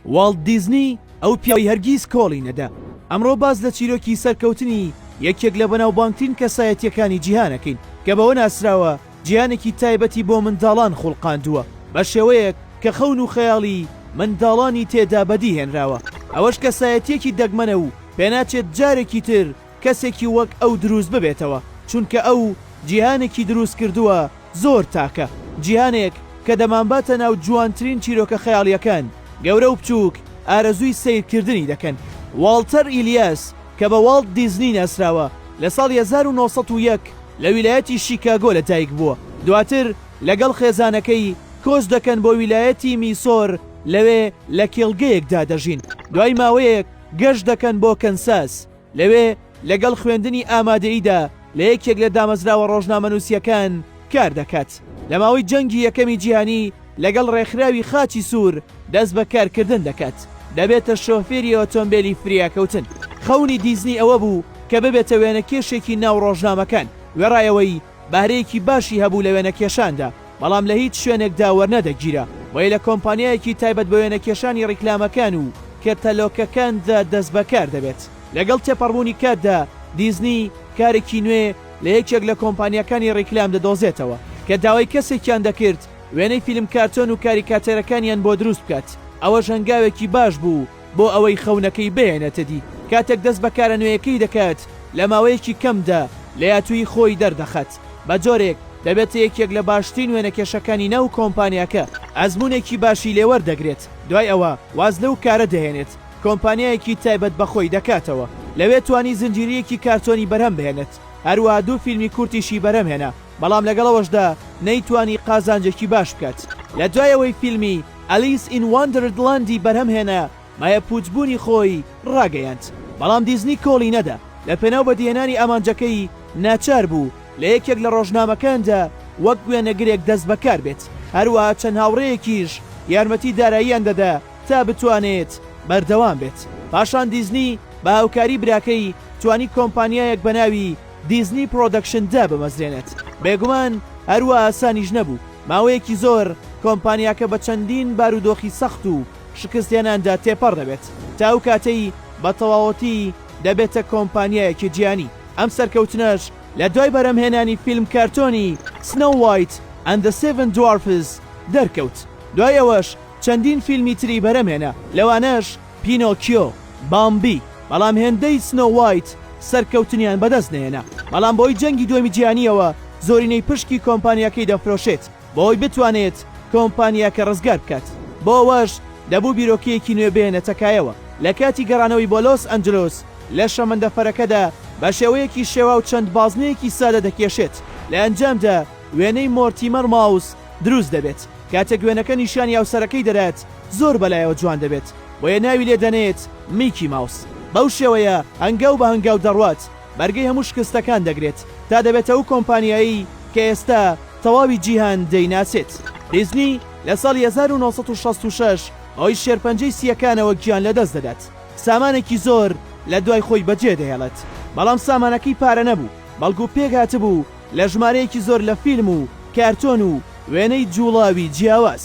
واڵت دیزنی ئەو پیاوەی هەرگیز کۆڵی نەدا. ئەمڕۆ باس لە چیرۆکی سەرکەوتنی یەکێک لە بەناوبانگترین کەسایەتییەکانی جیهان ئەکەین کە بەوە ناسراوە جیهانێکی تایبەتی بۆ منداڵان خوڵقاندووە بە شێوەیەک کە خەون و خەیاڵی منداڵانی تێدا بەدی هێنراوە ئەوەش کەسایەتییەکی دەگمەنە و پێناچێت جارێکی تر کەسێکی وەک ئەو دروست ببێتەوە چونکە ئەو جیهانێکی دروست کردووە زۆر تاکە جیهانێک کە دەمانباتە ناو جوانترین چیرۆکە خەیاڵیەکان گەورە و بچووک ئارەزووی سەیرکردنی دەکەن واڵتەر ئیلیاس کە بە واڵت دیزنی ناسراوە لە ساڵی هەزار و نۆ سەد و یەک لە ویلایەتی شیکاگۆ لە دایک بووە دواتر لەگەڵ خێزانەکەی کۆچ دەکەن بۆ ویلایەتی میسۆر لەوێ لە کێڵگەیەکدا دەژین دوای ماوەیەک گەشت دەکەن بۆ کەنساس لەوێ لەگەڵ خوێندنی ئامادەییدا لە یەکێک لە دامەزراوە ڕۆژنامەنووسییەکان کار دەکات. لە ماوەی جەنگی یەکەمی جیهانی لەگەڵ ڕێکخراوی خاچی سوور دەست بە کارکردن دەکات، دەبێتە شۆفێری ئۆتۆمبێلی فریاکەوتن. خەونی دیزنی ئەوە بوو کە ببێتە وێنەکێشێکی ناو ڕۆژنامەکان، وێڕایەوەی بەهرەیەکی باشی هەبوو لە وێنەکێشاندا. بەڵام لە هیچ شوێنێکدا وەرنەدەگیرا، بۆیە لە کۆمپانیایەکی تایبەت بە وێنەکێشانی ڕیکلامەکان و کەتەلۆکەکاندا دەستبەکار دەبێت. لەگەڵ تێپەڕبوونی کاتدا، دیزنی کارێکی نوێ لە یەکێک لە کۆمپانیاکانی ڕیکلام دەدۆزێتەوە، کە داوای کەسێکیان دەکرد وێنەی فیلم کارتۆن و کاریکاتێرەکانیان بۆ دروست بکات، ئەوەش هەنگاوێکی باش بوو، بۆ ئەوەی خەونەکەی بهێنێتە دی کاتێک دەست بە کارە نوێیەکەی دەکات لە ماوەیەکی کەمدا لەیاتوویی خۆی دەردەخات بە جۆرێک دەبێتە یەکێک لە باشترین وێنەکێشەکانی ناو کۆمپانیاکە ئەزموونێکی باشی لێ وەردەگرێت دوای ئەوە واز لەو کارە دەهێنێت کۆمپانیایەکی تایبەت بە خۆی دەکاتەوە لەوێ توانی زنجیرەیەکی کارتۆنی بەرهەم بهێنێت هەروەها دوو فیلمی کورتیشی بەرهەم هێنا بەڵام لەگەڵ ئەوەشدا نەیتوانی قازانجێکی باش بکات لە دوای ئەوەی فیلمی ئەلیس ئین واندەردلاندی بەرهەمهێنا مایە پووچبوونی خۆی ڕاگەیاند، بەڵام دیزنی کۆڵی نەدا، لەپێناو بەدیهێنانی ئامانجەکەی ناچار بوو لە یەکێک لە ڕۆژنامەکاندا وەک وێنەگرێک دەستبەکار بێت، هەروەها چەند هاوڕێیەکیش یارمەتی داراییان دەدا تا بتوانێت بەردەوام بێت، پاشان دیزنی بە هاوکاری براکەی توانی کۆمپانیایەک بە ناوی، دیزنی پرۆدەکشن دابمەزرێنێت، بێگومان هەر وا ئاسانیش نەبوو، ماوەیەکی زۆر کۆمپانیاکە بە چەندین بارودۆخی سەخت و شکستهێناندا تێپەڕ دەبێت تا ئەو کاتەی بە تەواوەتی دەبێتە کۆمپانیایەکی جیهانی، ئەم سەرکەوتنەش لە دوای بەرهەمهێنانی فیلم کارتۆنی Snow White and the Seven Dwarfs دەرکەوت، دوای ئەوەش چەندین فیلمی تری بەرهەمهێنا، لەوانەش. پینۆکیۆ، بامبی، بەڵام هێندەی سنۆ وایت سەرکەوتنیان بەدەست نەهێنا، بەڵام بەهۆی جەنگی دووەمی جیهانییەوە زۆرینەی پشکی کۆمپانیاکەی دەفرۆشێت بۆئەوەی بتوانێت کۆمپانیاکە ڕزگار بکات، بۆ ئەوەش دەبوو بیرۆکەیەکی نوێ بهێنێتە کایەوە، لەکاتی گەڕانەوەی بۆ لۆس ئەنجلۆس لە شەمەندەفەرەکەدا بەشێوەیەکی شێواو چەند بازنەیەکی سادە دەکێشێت، لە ئەنجامدا وێنەی مۆرتیمەر ماوس دروست دەبێت، کاتێک وێنەکە نیشانی هاوسەرەکەی دەدات، زۆر بەلایەوە جوان دەبێت بۆیە ناوی لێ دەنێت میکی ماوس بەو شێوەیە هەنگاو بە هەنگاو دەڕوات بەرگەی هەموو شکستەکان دەگرێت تا دەبێتە ئەو کۆمپانیایەی کە ئێستا تەواوی جیهان دەیناسێت دیزنی لە ساڵی هەزار و نۆ سەد و شەست و شەش بەهۆی شێرپەنجەی سییەکانەوە گیان لەدەست دەدات سامانێکی زۆر لە دوای خۆی بەجێ دەهێڵێت بەڵام سامانەکەی پارە نەبوو بەڵکو پێکهاتبوو لە ژمارەیەکی زۆر لە فیلم و کارتۆن و وێنەی جووڵاوی جیاواز